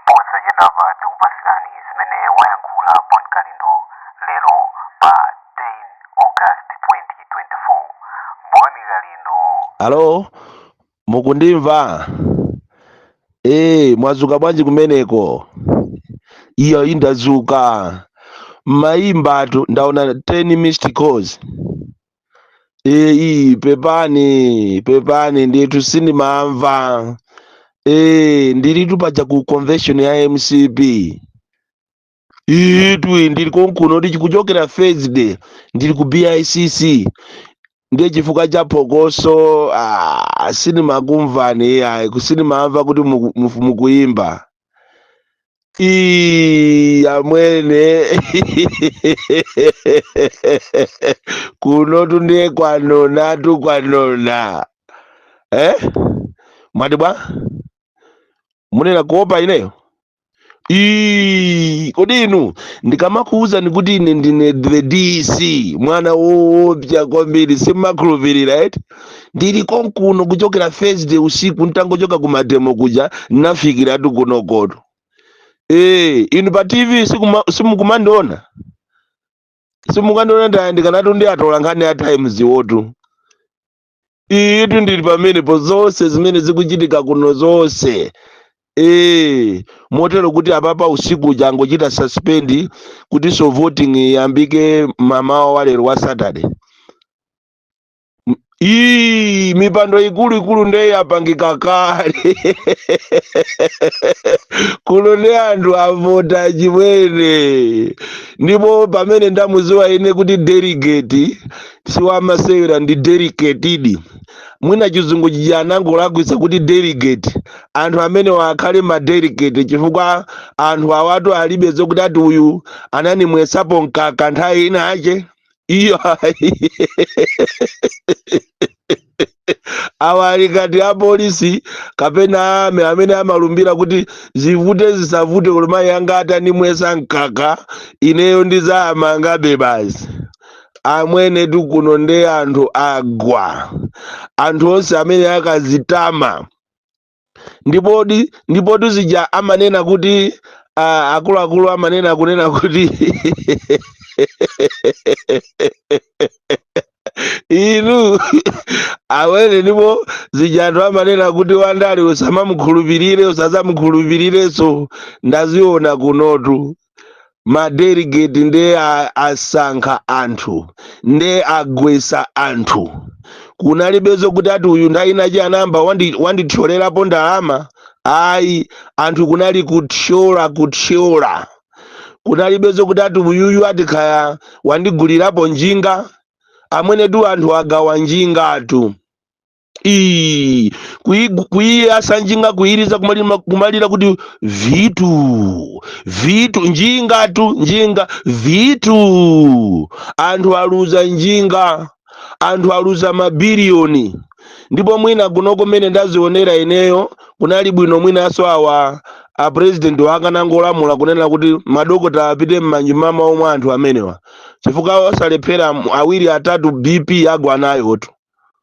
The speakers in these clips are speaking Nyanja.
posachedwapa tikupatsirani zimene wayankhula bon kalindo lero pa 10 august 2024 bon kalindo alo mukundimva ee mwazuka bwanji kumeneko iyo indazuka mmayimbatu ndaona 10 missed calls eyi pepani pepani ndithu sindimamva e ndilitu paja ku convention ya mcp itwi ndili konkuno kuchokera thursday ndili ku bicc ndiye chifukwa cha phokoso ah, sindimakumvani ayi sindimamva kuti muku- mufu- mukuyimba Ii, amwene kunotu ndiye kwanonatu kwanona eh? mwati bwa munena kuopa ineyo Ii, kodi inu ndikamakuwuzani kuti ine ndine the dc mwana woopsa kwambiri simukhulupirira eti ndili konkuno kuchokera thursday usiku ntangochoka ku mademo kuja nafikiratu kunokotu ee inu pa tv sikuma- simukumandiona simukandiona ndayandikanatu ndi atola nkhani a times wotu iyitu ndili pamenepo zonse zimene zikuchitika kuno zonse ee motero kuti apapa usiku uja angochita suspend kutinso voting iyambike mamawa walero wa saturday Ii, mipando ikuluikulu nde yapangika kale kuno nde anthu avota chimwene ndipo pamene ndamuziwa ine kuti delegate siwamasewera ndi delicatedi mwina chizungu chija anangolakwitsa kuti delegate anthu amene wakhale ma delegate chifukwa anthu awatu alibe zokuti ati uyu ananimwesapo mkaka nthawi ina yake iyo awa ali ngati apolisi kapena aame amene amalumbira kuti zivute zisavute olo mayi anga atanimwesa mkaka ineyo ndidzamangabe basi amwene kuno nde anthu agwa anthu onse amene akazitama ndipo ndipotu zija amanena kuti ah, akuluakulu amanena kunena kuti inu awene ndipo zija anthu amanena kuti wandale usamamukhulupirire usazamukhulupirirenso ndaziona kunotu madeligeti ndiye a- asankha anthu nde agwesa anthu kunalibe zokuti ati uyu nthawi inachi anayamba wandi- wandithyolerapo ndalama ayi anthu kunali kuthyola kuthyola kunalibe zokuti ati uyuyu ati kaya wandigulirapo njinga amwenetu anthu agawa njingatu Ii, kuigu- kuiyasa njinga kuiriza kumalima- kumalira kuti vitu vitu njingatu njinga vitu anthu aluza njinga anthu aluza mabiliyoni ndipo mwina kunoko mmene ndazionera ineyo kunali bwino mwinaso awa a president wakanangolamula kunena kuti madokota apite m'manyumba mawo mwa anthu amenewa chifukwa osalephera awiri atatu bp agwa nayotu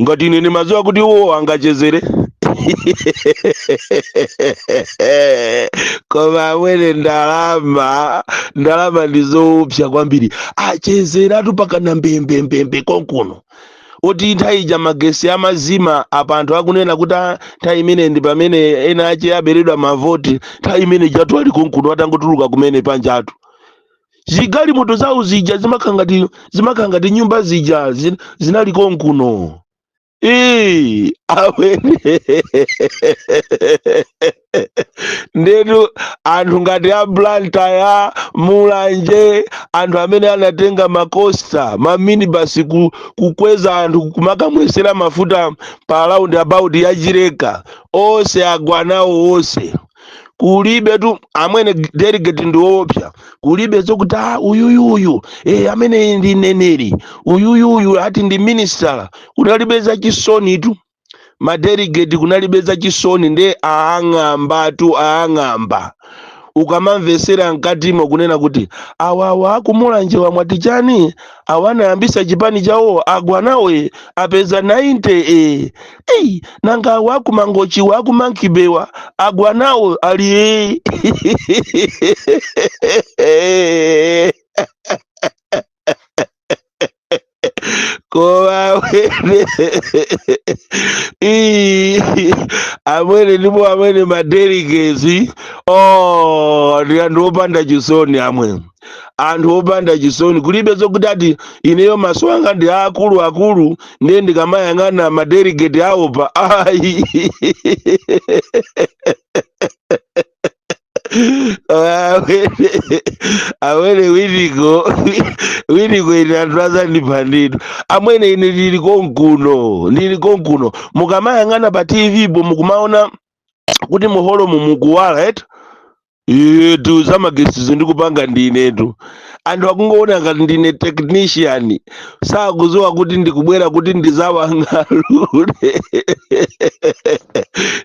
ngati ine ndimadziwa kuti uwo angachezere koma amwene ndalama ndalama ndi zoopsya kwambiri achezeratu pakana mbembembembe konkuno oti nthawi ija magesi amazima apa anthu akunena kuti ah, nthawi imene ndi pamene ena ache aberedwa mavoti nthawi imene ijatu ali konkuno atangotuluka kumene panjatu zigalimoto zawo zija zimakhala ngati zimakhala ngati nyumba zija zin- zinali konkuno Ee, amwene ndetu anthu ngati aku Blantyre, Mulanje, anthu amene anatenga makosta maminibasi ku, kukweza anthu kumakamwesera mafuta pa round about ya Chileka, onse agwa nawo onse kulibetu amwene delegate ndi woopsya kulibe zokuti ah, uyuyuyu e, amwene ndi mneneri uyuyuyu ati ndi minisitala kunalibe za chisonitu madelegate kunalibe za chisoni nde aang'ambatu aang'amba ukamamvesera mkatimo kunena kuti awawa aku Mulanjewa mwati chani awa anayambisa chipani chawo agwa nawo e, apeza 90 e, Ei, nanga awo aku Mangochi awa aku Monkey Bay-wa agwa nawo ali ee. koma amwene Ii, amwene ndipo amwene madeligetsi oh ndi anthu opanda chisoni amwe anthu opanda chisoni kulibe zokuti ati ineyo maso anga ndi aakulu akulu ndiye ndikamayang'ana madelegate awopa ayi amwene Winiko Winiko ine anthu azandiphaditu amwene ine ndili konkuno ndili konkuno mukamayang'ana pa tvpo mukumaona kuti muholomu mukuwala eti iyetu zamagesizo ndikupanga ndinetu anthu akungoona ngati ndine technician sakuziwa kuti ndikubwera kuti ndizawang'alule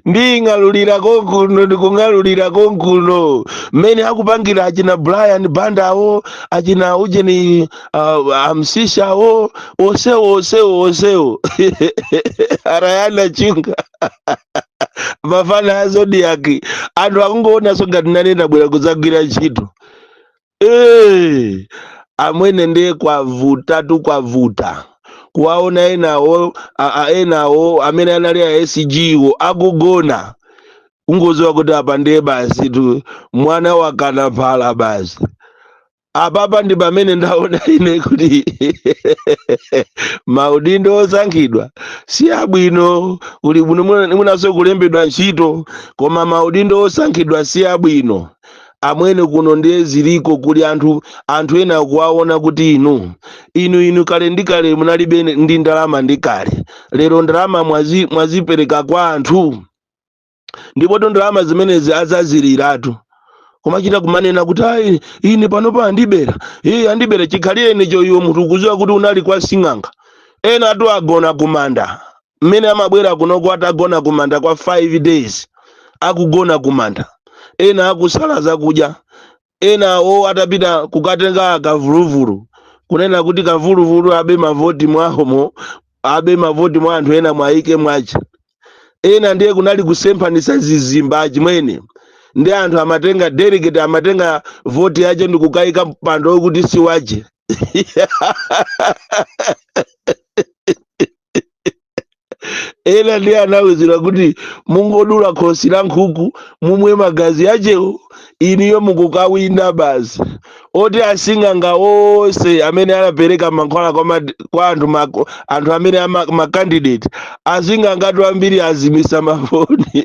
nding'alulira konkuno ndikung'alulira konkuno mmene akupangira achina brian bandawo achina ujeni uh, amsishawo osewo osewo osewo arayana chunga mafana a zodiac anthu akungoonanso ngati nane ndabwera kuzagwira ntchito Eh, amwene ndiye kwavutatu kwavuta kuwaona enawo a- a- enawo amene anali a sg wo akugona ungoziwa kuti apa ndiye basitu mwana wakana phala basi apapa ndi pamene ndaona ine kuti maudindo osankhidwa si abwino kuli bwino mwina- mwinanso kulembedwa ntchito koma maudindo osankhidwa si abwino amwene kuno ndiye ziliko kuli anthu anthu ena kuwaona kuti inu inu inu kale ndi kale munalibe ndi ndalama ndi kale lero ndalama mwazi, mwazipereka kwa anthu ndipo ndalama zimenezi azaziliratu kumachita kumanena kuti ayi ine panopa andibera iye andibera chikhalirenicho iwe munthu ukuziwa kuti unali kwa sing'anga ena ati agona kumanda mmene amabwera kunoko atagona kumanda kwa 5 days akugona kumanda ena akusala zakudya Ena awo atapita kukatenga kavuluvulu, kunena kuti kavuluvulu abe mavoti mwahomo, abe mavoti mwa anthu ena awaike mwache. Ena ndiye kunali kusemphanisa zizimba achimwene. Ndi anthu amatenga delegate amatenga voti yache ndikukaika pampando okuti siwache. ena ndiye anawuzidwa kuti mungodula khosi la nkhuku mumwe magazi achewo inuyo mukukawina basi oti asing'anga onse amene anapereka mankhwala kwa, ma, kwa anthu, ma, anthu amene ama, makandidate asing'angatu ambiri azimisa mafoni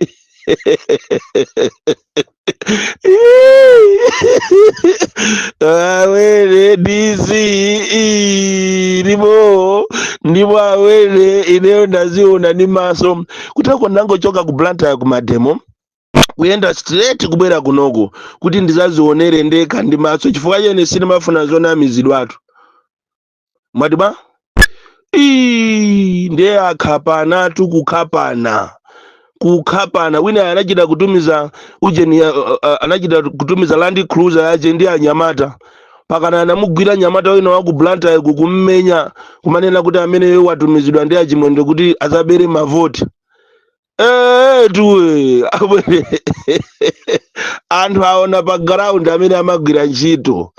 amwene dc ii, ndipo ndipo amwene ineyo ndaziona ndi maso kutako nidangochoka ku blantyre ku mademo kuyenda straight kubwera kunoko kuti ndizazionere ndekha ndi maso chifukwa chene sinimafuna zonamizidwatu mwati bwa Ii, ndiye akhapanatu kukhapana kukhapana wina anachita kutumiza ujeni ya- uh, uh, anachita kutumiza land cruiser yache ndi anyamata pakana anamugwira nyamata wina wa ku blantyre kummenya kumanena kuti ameneyo watumizidwa ndi a Chimwendo kuti azabere mavoti etuwe abwere anthu aona pa ground amene amagwira ntchito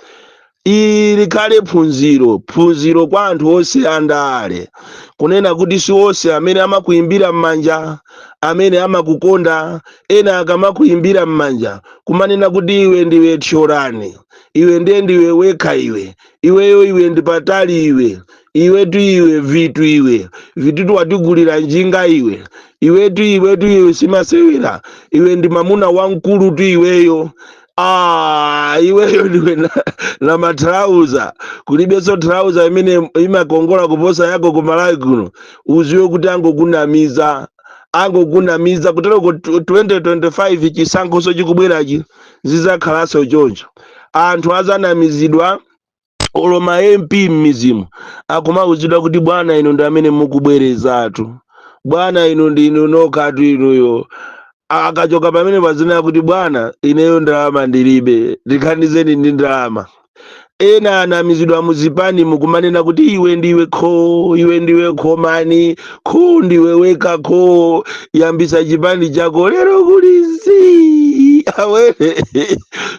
ili likhale phunziro phunziro kwa anthu onse andale kunena kuti si onse amene amakuimbira m'manja amene amakukonda ena akamakuimbira m'manja kumanena kuti iwe ndiwe thyolani iwe ndiye ndiwe wekha iwe iweyo iwe ndi patali iwe iwetu iwe vitu iwe vitutu watigulira njinga iwe iwetu iwetu iwe simasewera iwe ndi mamuna wamkulutu iweyo Ah, iweyo ndiwe na, na matrauza kulibenso trauza imene imakongola kuposa yako kumalawi kuno uziwe kuti angokunamiza angokunamiza kutero ku 2025 chisankhoso chikubwerachi zidzakhalanso choncho. Anthu adzanamizidwa olo ma MP m'midzimu akumauzidwa kuti bwana inu ndi amene mukubwerezatu, bwana inu ndi inu nokhatu inuyo. A- Akachoka pamenepa azinena kuti bwana ineyo ndalama ndilibe, ndithandizeni ndi ndalama. ena anamizidwa muzipani mukumanena kuti iwe ndiwe kho iwe ndiwe khomani kho ndiwe wekha kho yambisa chipani chako lero kuli zii awere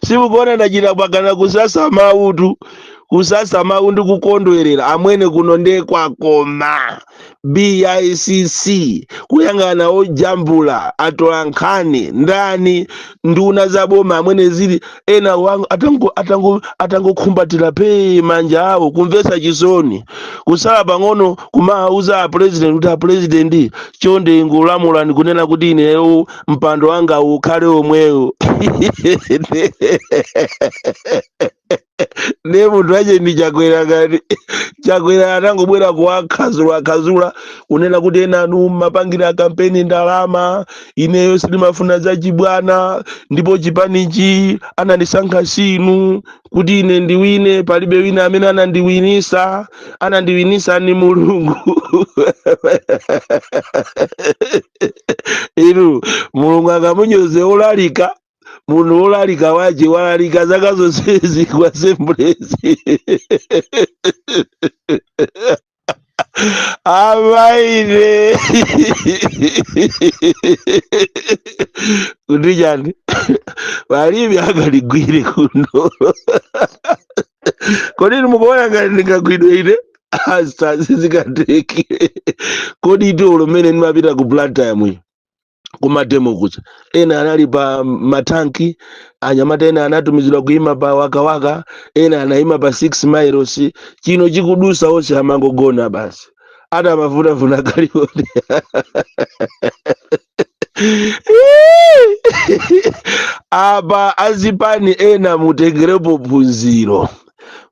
simukuona ndachita mpakana kusasa mautu kusasa mau ndi kukondwerera amwene kuno nde kwakoma bicc kuyang'ana ojambula atolankhani ndani nduna za boma amwene zili ena wangu atango- atango- atangokhumbatira phee manja awo kumvetsa chisoni kusala pang'ono kumawauza apurezidenti kuti apurezidenti chonde ngolamulani kunena kuti ineyo mpando wanga ukhale omwewo nde munthu ache ndi chakwera ngati chakwera atangobwera kuwakhazulakhazula kunena kuti enanu mmapangira kampeni ndalama ineyo sindimafuna zachibwana ndipo chipanichi anandisankha sinu kuti ine ndiwine palibe wina amene anandiwinisa anandiwinisa ni mulungu inu mulungu akamunyoze olalika munthu wolalika wache walalika zaka zonsezi ku Assemblies amaine kuti chani palibe angandigwire kuno kodi inu mukuona ngati ndingagwidwe ine asita sizikatheke kodi dzulo mmene ndimapita ku Blantyre kumademo kuja ena anali pa matanki anyamata ena anatumizidwa kuima pa wakawaka ena anaima pa 6 miles chino chikudusa onse amangogona basi ati amafuna kalioti apa azipani ena mutengerepo phunziro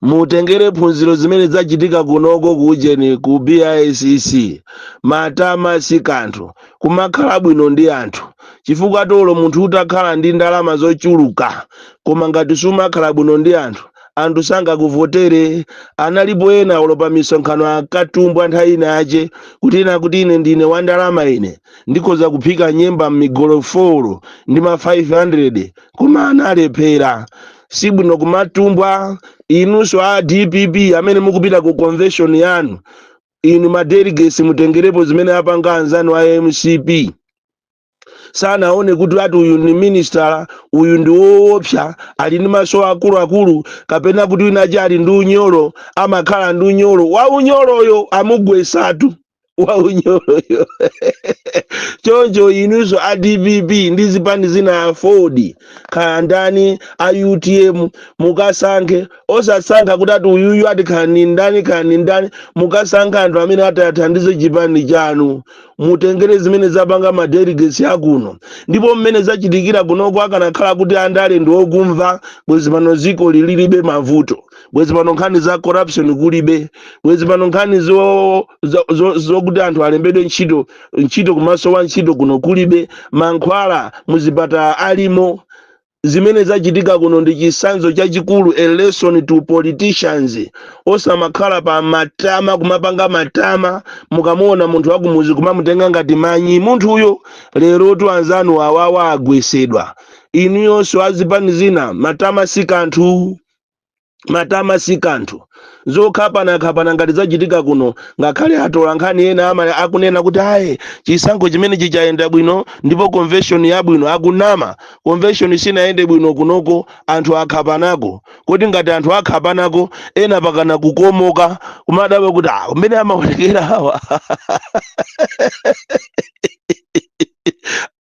mutengere phunziro zimene zachitika kunoko ku ujeni ku bicc matama si kanthu kumakhala bwino ndi anthu chifukwa olo munthu utakhala ndi ndalama zochuluka koma ngati sumakhala bwino ndi anthu anthu sangakuvotere analipo ena olo pa misonkhano akatumbwa nthawi ina yache kuti ine kuti ine ndine wa ndalama ine ndikhoza kuphika nyemba m'migolofolo ndi ma 500 koma analephera sibwino kumatumbwa inunso a dpp amene mukupita ku convention yanu inu ma delegates mutengerepo zimene apanga anzanu a mcp sanaone kuti ati uyu ni minister uyu ndi woopsa ali ndi maso akuluakulu kapena kuti wina wache ali ndi unyolo amakhala ndi unyolo wa unyoloyo amugwesatu wa unyoloyo choncho inunso a dpp ndi zipani zina afodi kaya ndani a utm mukasankhe osasankha kuti ati uyuyu ati kaya ni ndani kaya ni ndani mukasankhe anthu amene atathandize chipani chanu mutengere zimene zapanga madelegates akuno ndipo mmene zachitikira kunoko akanakhala kuti andale ndi okumva bwezi pano zikoli lilibe mavuto bwezi pano nkhani za corruption kulibe bwezi pano nkhani zo- zo- zo- zokuti anthu alembedwe ntchito kumasowa ntchito kuno kulibe mankhwala muzipatala alimo zimene zachitika kuno ndi chisanzo chachikulu a lesson to politicians osamakhala pa matama kumapanga matama mukamuona munthu wakumuzi kumamutenga ngati manyi munthuyo lerotu anzanu awawa agwesedwa inuyo nonse azipani zina matama si kanthu Matama si kanthu. Zokhapanakhapana ngati zachitika kuno, ngakhale atolankhani ena ama akunena kuti ayi chisankho chimenechi chayenda bwino ndipo convention yabwino, akunama. Convention sinayende bwino kunoko, anthu akhapanako. Kodi ngati anthu akhapanako, ena pakana kukomoka, kumadabwa kuti ah mmene amaonekera awa.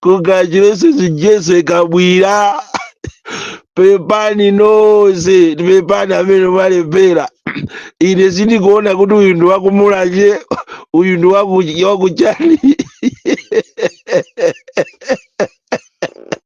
congratulations jese kabwira pepani nonse pepani amene mwalephera ine sindikuona kuti uyu ndi wakumulanje uyu ndi waku- wakuchani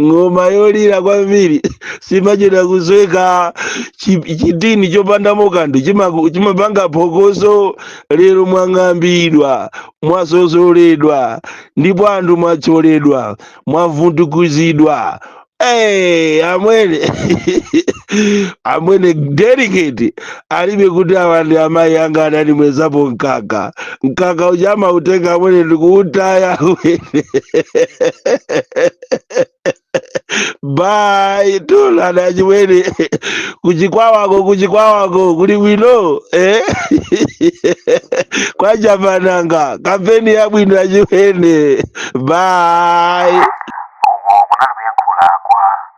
ng'oma yolira kwambiri simachedwa kusweka chi- chitini chopandamo kanthu chimaku- chimapanga phokoso lero mwang'ambidwa mwasosoledwa ndipo anthu mwathyoledwa mwavundukuzidwa Hey, amwene amwene delegate alibe kuti awa ndi amayi anga anandimwezapo mkaka mkaka uja amautenga amwene ndikuutaya amwene bye tionana achimwene kuchikwawako kuchikwawako kuli bwino eh? kwa japananga kampeni yabwino achimwene bye uko kunali kuyankhula kwa